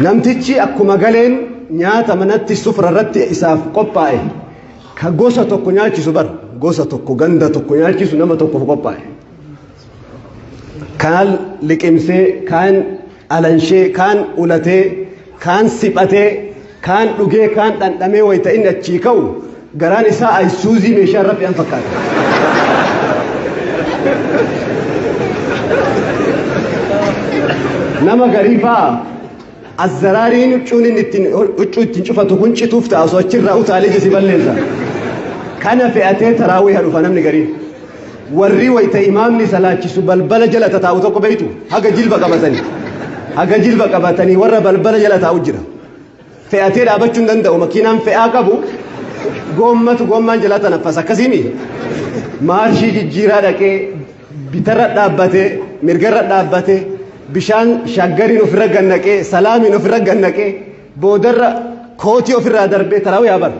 Namtichi akkuma galeen nyaata manatti sufra irratti isaaf qophaa'e ka gosa tokko nyaachisu bar gosa tokko ganda tokko nyaachisu nama tokkoof qophaa'e. Kaan liqimsee, kaan alanshee, kaan ulatee, kaan siphatee Kaan dhugee kaan dhandhamee wayita inni achii ka'u garaan isaa ayisuuzii meeshaa irra fe'an fakkaata. Nama garii fa'a azzaraariin huccuun inni ittiin huccuu ittiin cufatu kun cituuf ta'a osoo achirraa utaalee jisi balleessa. Kana fe'atee taraawwiha dhufa namni gariin. Warri wayita imaamni salaachisu balbala jala tataa'u tokko beektu haga jilba qabatanii haga jilba qabatanii warra balbala jala taa'u jira. fe'atee dhaabachuu hin danda'u makiinaan fe'aa qabu goommatu goommaan jalaa tanaffas akkasiimi maarshii jijjiiraa dhaqee bitarra dhaabbatee mirgarra dhaabbatee bishaan shaggariin ofirra gannaqee salaamiin ofirra gannaqee boodarra kootii ofirraa darbee taraawuu yaa bara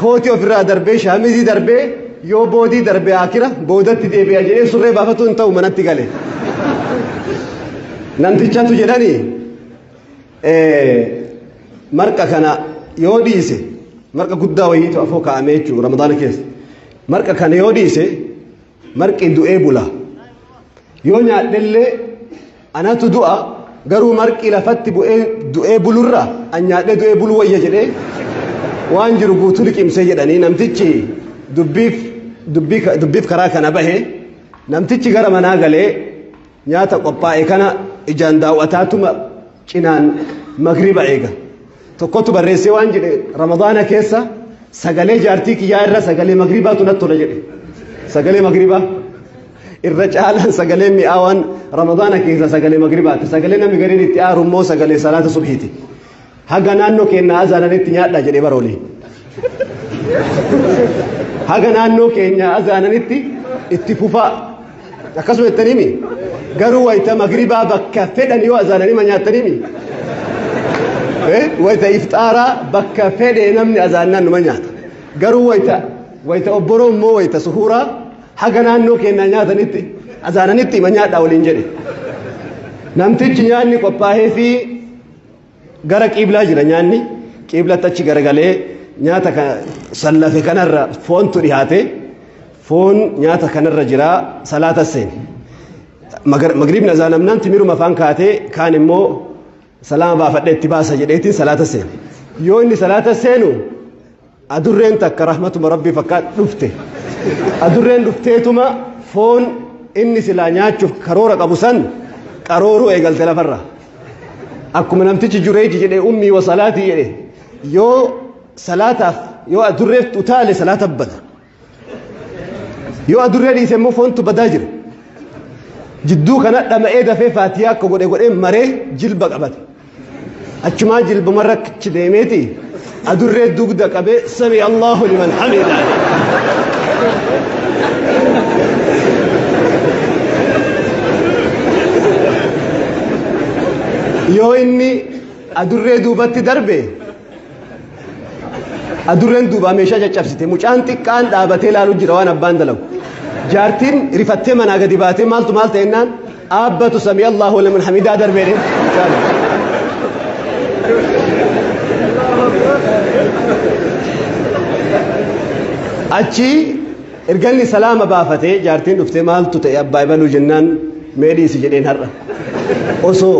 kootii ofirraa darbee shaamizii darbee yoo boodii darbee akira boodatti deebi'a jedhee surree baafatu hin ta'u manatti gale namtichatu jedhanii marqa kana yoo dhiise marqa guddaa wayiitu afoo kaa'amee jechuudha ramadaana keessa marqa kana yoo dhiise marqi du'ee bula yoo nyaadhellee anatu du'a garuu marqi lafatti bu'ee du'ee bulurra an nyaadhee du'ee bulu wayya jedhee waan jiru guutuu liqimsee jedhanii namtichi dubbiif dubbii dubbiif karaa kana bahe namtichi gara manaa galee Nyaata qophaa'e kana ijaan daaw'ataatuma cinaan magriba eega. Tokkotu barreessee waan jedhe Ramadaana keessa sagalee jaartii kiyyaa irra sagalee magribaatu natti tola jedhe. Sagalee magribaa irra caalaan sagalee mi'aawaan Ramadaana keessa sagalee magribaati. Sagalee namni gariin itti aaru immoo sagalee salaata subhiiti. Haga naannoo keenya azaananitti nyaadhaa jedhee bara olii. Haga naannoo keenya azaananitti itti fufaa. Akkasuma jettaniimi. Garuu wayita magribaa bakka fedhan yoo azaananima nyaattaniimi. Wayita iftaaraa bakka fedhe namni azaannaan numa nyaata. Garuu wayita wayita obboroo immoo wayita suhuuraa haga naannoo keenya nyaatanitti azaananitti ima nyaadhaa waliin jedhe. Namtichi nyaanni qophaa'ee fi Gara qiiblaa jira nyaanni qiiblatti achi garagalee nyaata kana sallafe kanarra foontu dhihaate foon nyaata kanarra jira salaata seene. Magriibni azaanamnaan timiruma afaan kaatee kaan immoo salaama baafadhee itti baasa jedheetiin salaata seene. Yoo inni salaata seenu Adurreen takka rahmatuma rabbii fakkaat dhufte. Adurreen dhufteetuma foon inni silaa nyaachuuf karoora qabu san qarooruu eegalte lafarra. Akkuma namtichi jureeji jedhe ummii wa salaatii jedhe yoo salaataaf yoo adurreef utaale salaata bada. yoo adurree dhiise immoo foontu badaa jira jidduu kana dhama'ee dafee faatiyaa akka godhe godhee maree jilba qabate achumaa jilbumarra achi deemeeti adurree dugda qabee sami allahu liman hamida yoo inni adurree duubatti darbe Adurreen duubaa meeshaa caccabsite mucaan xiqqaan dhaabatee ilaalu jira waan abbaan dalagu. Jaartiin rifattee manaa gadi baatee maaltu maal ta'ennaan aabbatu samii Allahu liman hamidaa darbee dee. Achi erganni salaama baafatee jaartiin dhuftee maaltu ta'e abbaa ibaluu jennaan meedhiisi jedheen har'a. Osoo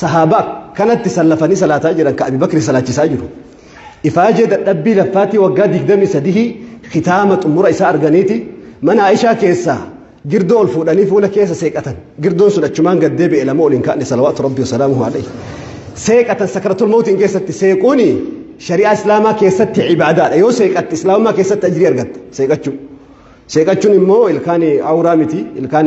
Sahaabaa kanatti sallafanii salaataa jiran ka Abi Bakri salaachisaa jiru. Ifaajee dadhabbii laffaatii waggaa 23 kitaama xumura isaa arganiiti mana Aishaa keessaa girdoo ol fuudhanii fuula keessa seeqatan. Girdoon sun achumaan gad deebi'e lama ol hin kaa'ne salawaatu rabbi wasalaamuhu alayhi. Seeqatan sakaratul mawtiin keessatti seequuni shari'aa islaamaa keessatti ibaadaadha. Yoo seeqatte islaamummaa keessatti ajrii argatta seeqachuu. Seeqachuun immoo ilkaan awuraa miti ilkaan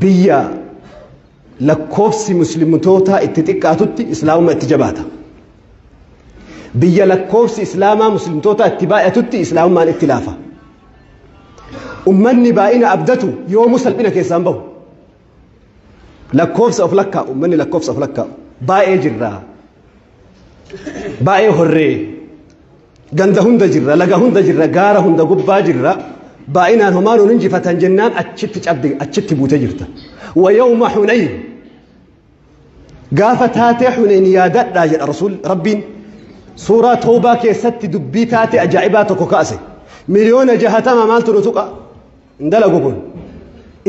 Biyya lakkoofsi muslimtootaa itti xiqqaatutti islaamummaa itti jabaata. Biyya lakkoofsi islaamaa muslimtootaa itti baay'atutti islaamummaan itti laafa. Ummanni baay'ina abdatu yoomuu salphina keessaan bahu. Lakkoofsa of lakkaa'u ummanni lakkoofsa of lakkaa'u baay'ee jirraa baay'ee horree Ganda hunda jirra, laga hunda jirra, gaara hunda gubbaa jirra. Baay'inaan homaa nuun injifatan jennaan achitti cabde, achitti buute jirta. Wa yawma Hunayn. Gaafa taatee Hunayn yaadadhaa jedha Rasuul Rabbiin. Suuraa Toobaa keessatti dubbii taatee ajaa'ibaa tokko kaase. Miliyoona jahatama maaltu nu tuqa? hin dalagu kun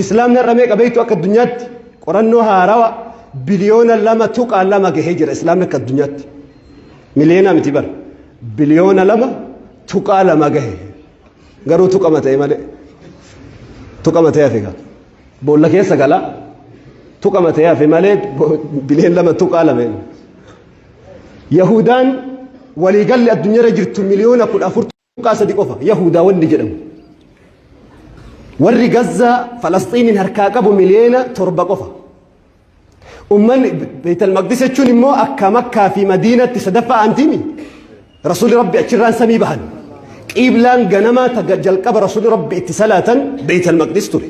islaamni har'a meeqa beektu akka addunyaatti qorannoo haarawa biliyoona lama tuqaa lama gahee jira islaamni akka addunyaatti miliyoonaa miti bara biliyoona lama tuqaa lama gahe garuu tuqama ta'e malee tuqama ta'e hafe gaa boolla keessa gala tuqama ta'e hafe malee biliyoona lama tuqaa lama yahudaan waliigalli addunyaarra jirtu miliyoona kudha afur Tuqaa sadi qofa Yahuudaa wanni jedhamu. Warri Gazzaa Falasxiiniin harkaa qabu miliyoona torba qofa. Ummanni Beetal Maqdis jechuun immoo akka Makkaa fi Madiinatti sadaffaa aantiimi. Rasuulli Rabbi achirraan samii bahan. Qiiblaan ganamaa jalqaba Rasuulli Rabbi itti salaatan Beetal Maqdis ture.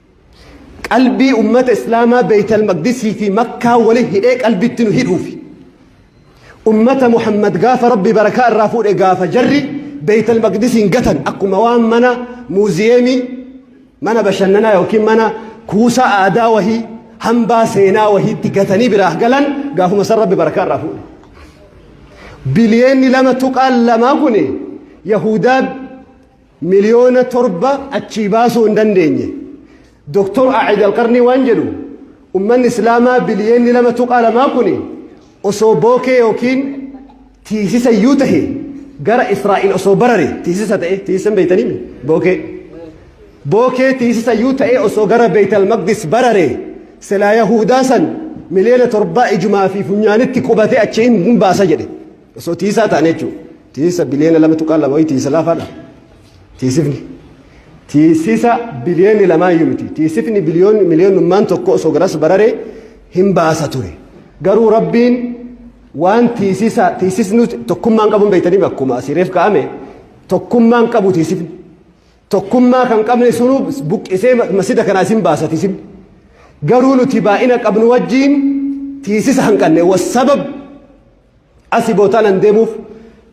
Qalbii ummata Islaamaa Beeytal Maqdisii fi Makkaa wali hidhee qalbitti nu hidhuufi. Ummata Muhammad gaafa Rabbi barakaa irraa fuudhe gaafa jarri Beeytal Maqdisiin gatan akkuma waan mana muuziyeemii, mana bashannanaa yookiin mana kuusaa aadaa wahii, hambaa seenaa wahiitti gatanii biraa galan gaafuma san Rabbi barakaa irraa fuudhe. Biliyeenni lama tuqaan lamaa kun Yahudaa Miliyoona torba achii baasuu hin dandeenye. Doktor Aa'id Alqarnii waan jedhu ummanni Islaamaa biliyeenni lama tuqaa lamaa kuni osoo bookee yookiin tiisisa iyyuu tahe gara Israa'il osoo barare tiisisa ta'e tiisisan beeytanii bookee bookee tiisisa iyyuu ta'e osoo gara Beeytal Maqdis barare silaa Yahuudaa san miliyoona torbaa ijumaa fi funyaanitti qubate achi hin baasa jedhe. Osoo tiisaa ta'an jechuudha. Tiisa biliyoona lama tuqaa lama wayii tiisa laafaadha. Tiisifni. Tiisisa biliyoonni lamaa iyyuu miti. Tiisifni biliyoonni miliyoonummaan tokko osoo garas bararee hin baasa ture. Garuu rabbiin waan tiisisa tiisisni tokkummaan qabuun beektanii akkuma asii reef kaa'ame tokkummaan qabu tiisifni. Tokkummaa kan qabne sunuu buqqisee masjida kanaa isin baasa tiisifni. Garuu nuti baay'ina qabnu wajjin tiisisa hanqanne wasabab Asi bootaan an deemuuf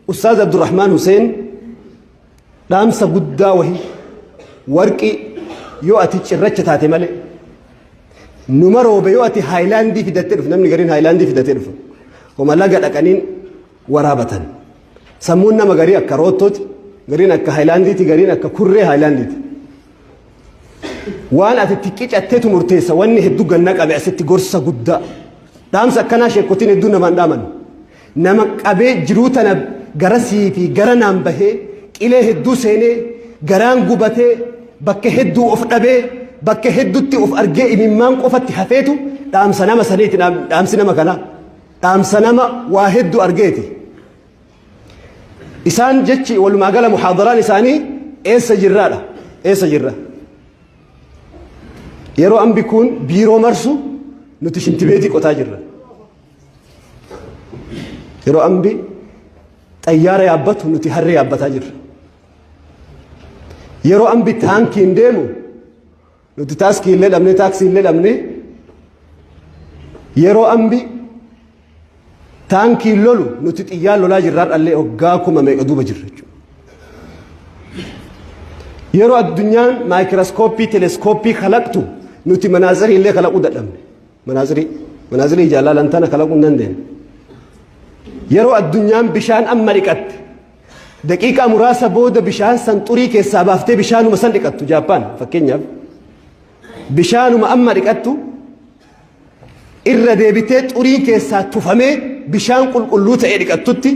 Ustaaz Abdurrahmaan Huseen dhaamsa guddaa wahii warqii yoo ati cirracha taate malee numa roobe yoo ati haayilaandii fidattee dhufu namni gariin haayilaandii fidatee dhufu homa laga dhaqaniin waraabatan sammuun nama garii akka roottooti gariin akka haayilaandiiti gariin akka kurree haayilaandiiti. waan ati itti qicattetu murteessa wanni hedduu ganna qabe asitti gorsa guddaa dhaamsa akkanaa sheekotiin hedduu namaan dhaaman nama qabee jiruu tana gara sii fi gara naan bahee qilee hedduu seenee garaan gubatee bakka hedduu of dhabee bakka hedduutti of argee imimmaan qofatti hafeetu dhaamsa nama saniiti dhaamsi nama kanaa dhaamsa nama waa hedduu argeeti. Isaan jechi walumaa gala muhaadaraan isaanii eessa jirraadha eessa jirra. Yeroo ambi kun biiroo marsu nuti shintibeetii qotaa jirra. Yeroo ambi xayyaara yaabbatu nuti harree yaabbataa jirra. Yeroo ambi taankiin deemu Nuti taaskii illee dhabne taaksii illee dhabne yeroo ambi taankiin lolu nuti xiyyaan lolaa jirra har'allee waggaa kuma meeqa duuba jirra jechuudha. Yeroo addunyaan maayikirooskooppii teleeskooppii kalaqtu nuti manaazirii illee kalaquu dadhabne. Manaazirii manaazirii ijaa laalan tana kalaquu hin dandeenye. Yeroo addunyaan bishaan amma dhiqatte Daqiiqaa muraasa booda bishaan san xurii keessaa baaftee bishaanuma san dhiqattu Jaappaan fakkeenyaaf. Bishaanuma amma dhiqattu irra deebitee xuriin keessaa tufamee bishaan qulqulluu ta'ee dhiqattutti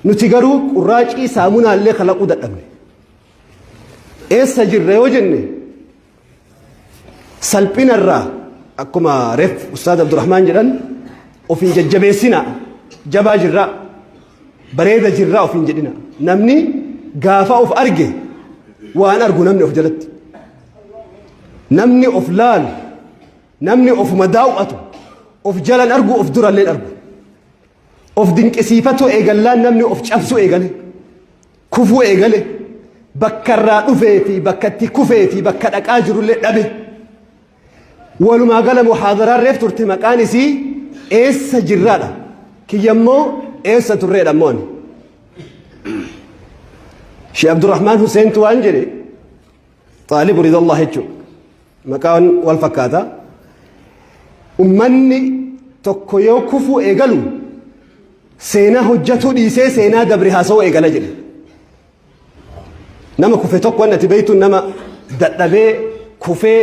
nuti garuu qurraacii saamunaallee kalaquu dadhabne. Eessa jirra yoo jenne Salphina irraa akkuma ref Ustaaz Abdurrahmaan jedhan ofiin jajjabeessina jabaa jirra bareeda jirra ofiin jedhina namni gaafa of arge waan argu namni of jalatti namni of laalu namni ofuma daaw'atu of jalan argu of duralleen argu Of dinqisiifatuu eegallaa namni of cabsuu eegale. Kufuu eegale. Bakka irraa dhufee fi bakka itti kufee fi bakka dhaqaa jirullee dhabe. Walumaa gala muhaadaraa reef turte maqaan isii eessa jirraadha. Kiyyammoo eessa turreedha mooni. Shee Abdurrahmaan Huseentu waan jedhe Xaalibu Ridallah jechuun maqaan wal fakkaata. Ummanni tokko yoo kufuu eegalu seenaa hojjetuu dhiisee seenaa dabre haasawuu eegala jedhe. Nama kufe tokko waan ati beektu nama dadhabee kufee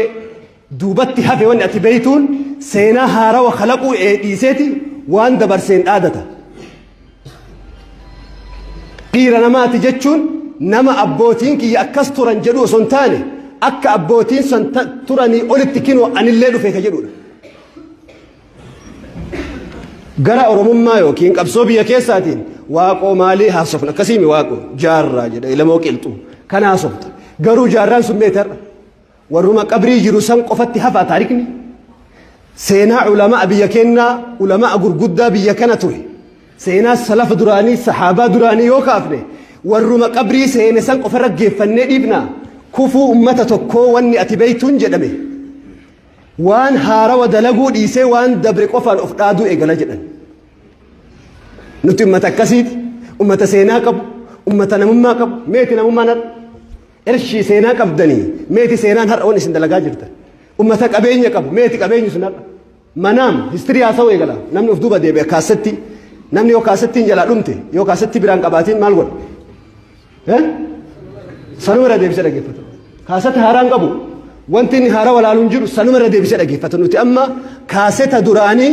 Duubatti hafe wanni ati beeytuun seenaa haarawa kalaquu dhiiseeti waan dabarseen dhaadata. Dhiira namaati jechuun nama abbootiin kiyya akkas turan jedhu osoo hin taane akka abbootiin san turanii olitti kinoo anillee dhufe ka jedhudha. Gara Oromummaa yookiin qabsoo biyya keessaatiin waaqoo maalii haasofna akkasiimi waaqoo jaarraa jedha ilamoo qilxuu kan haasofta garuu jaarraan sun meetarra. Warruma qabrii jiru san qofatti hafaa taarikni? Seenaa ulama'a biyya kennaa, ulama'a gurguddaa biyya kana ture. Seenaa salafa duraanii, sahaabaa duraanii yoo kaafne, warruma qabrii seene san qofa raggeeffannee dhiifna. Kufuu ummata tokkoo wanni ati beeytuun jedhame. Waan haarawa dalaguu dhiisee waan dabre qofaan of dhaaduu eegala jedhan. Nuti ummata akkasiiti. Ummata seenaa qabu, ummata namummaa qabu. Meeti namummaan har'a? Ershii seenaa qabdanii meeti seenaan har'a waan isin dalagaa jirtan. Ummata qabeenya qabu meeti qabeenyi sun har'a. Manaam histirii haasa'uu eegala namni of duuba deebi'e kaasatti namni yoo kaasatti hin jalaa dhumte yoo kaasatti biraan qabaatiin maal godha? Eh? Sanuma irra deebisee dhaggeeffata. Kaasatti haaraa hin qabu. Wanti inni haaraa walaaluun jiru sanuma irra deebisee dhaggeeffata. Nuti amma kaaseta duraanii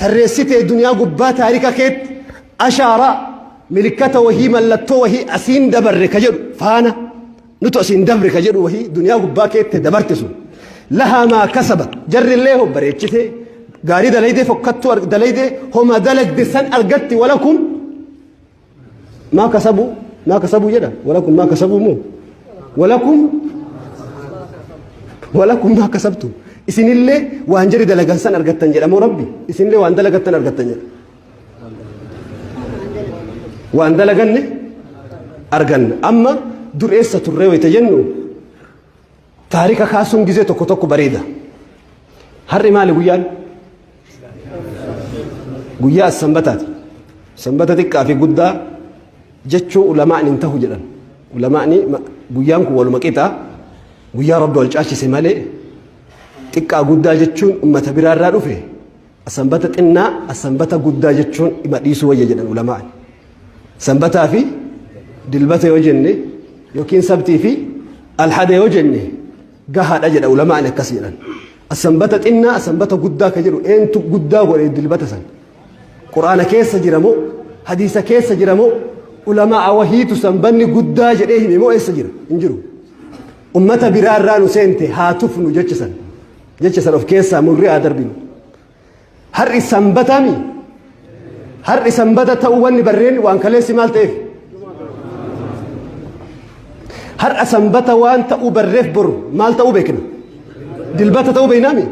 tarreessitee duniyaa gubbaa taarika keetti ashaaraa milikkata wahii mallattoo wahii asiin dabarre ka jedhu faana nutu asiin dabre ka jedhu wahii duniyaa gubbaa keetti dabarte sun lahaa maa kasaba jarri illee hoo bareechitee gaarii dalaydee fokkattuu arg- dalaydee homa dalagde san argatti walakum maa kasabuu maa kasabuu jedha walakum maa kasabuu moo walakum walakum maa kasabtu isinillee waan jari dalagan san argattan jedha moo rabbi isinillee waan dalagattan argattan jedha waan dalaganne arganna amma dureessa turree wayita jennu Taarika kaasuun gizee tokko tokko bareeda. Har'i maali guyyaan? Guyyaa sanbataati. Sanbata xiqqaa fi guddaa jechuu ulamaan hin tahu jedhan. Ulamaan guyyaan kun waluma qixa guyyaa rabbi wal caalchise malee xiqqaa guddaa jechuun ummata biraarraa dhufe Sanbata xinnaa sanbata guddaa jechuun dhima dhiisuu wayya jedhan ulamaan. Sanbataa fi dilbata yoo jenne yookiin sabtii fi alhada yoo jenne gahaadha jedha ulamaan akkas jedhan. Sanbata xinnaa sanbata guddaa ka jedhu eentu guddaa godhe dilbata san. Quraana keessa jira moo hadiisa keessa jira moo ulamaa wahiitu sanbanni guddaa jedhee hime moo eessa jira hin jiru. Ummata biraa irraa nu seente haa tufnu jechisan. jecha san of keessaa murree haa darbinu. Har'i sanbataa mi? Har'i sanbata ta'uu wanni barreen waan kaleessi maal ta'eef? Har'a sanbata waan ta'uu barreef boru maal ta'uu beekna? Dilbata ta'uu beeknaa mi?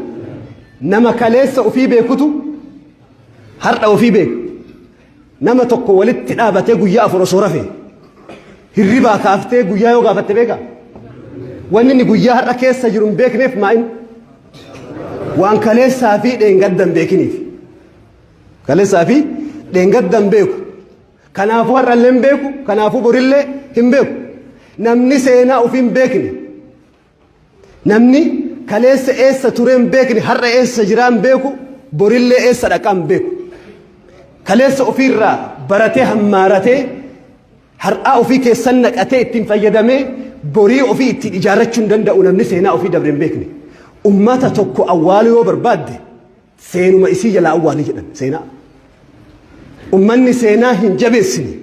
Nama kaleessa ofii beekutu har'a ofii beeka. Nama tokko walitti dhaabatee guyyaa afur osoo rafe hirribaa kaaftee guyyaa yoo gaafatte beeka. Wanni inni guyyaa har'a keessa jiru hin beekneef maa'in waan kaleessaa fi dheengadda hin beekiniif. Kaleessaa fi dheengadda hin beeku. Kanaafuu har'allee hin beeku. Kanaafuu borillee hin beeku. Namni seenaa ofii hin beekne. Namni kaleessa eessa turee hin beekne har'a eessa jiraa hin beeku borillee eessa dhaqaa hin beeku. Kaleessa ofiirraa baratee hammaaratee har'aa ofii keessan naqatee ittiin fayyadamee borii ofii ittiin ijaarrachuu hin danda'u namni seenaa ofii dabre hin beekne. Ummata tokko awwaaluu yoo barbaadde Seenuma isii jalaa awwaali jedhan seenaa. Ummanni seenaa hin jabeessine,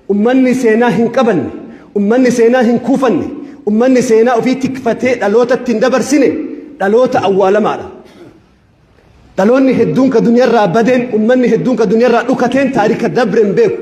ummanni seenaa hin qabanne, ummanni seenaa hin kuufanne, ummanni seenaa ofii tikfatee dhalootatti hin dabarsine dhaloota awwaalamaadha. Dhaloonni hedduun ka duniyarraa badeen, ummanni hedduun ka duniyarraa dhukateen taarika dabre hin beeku.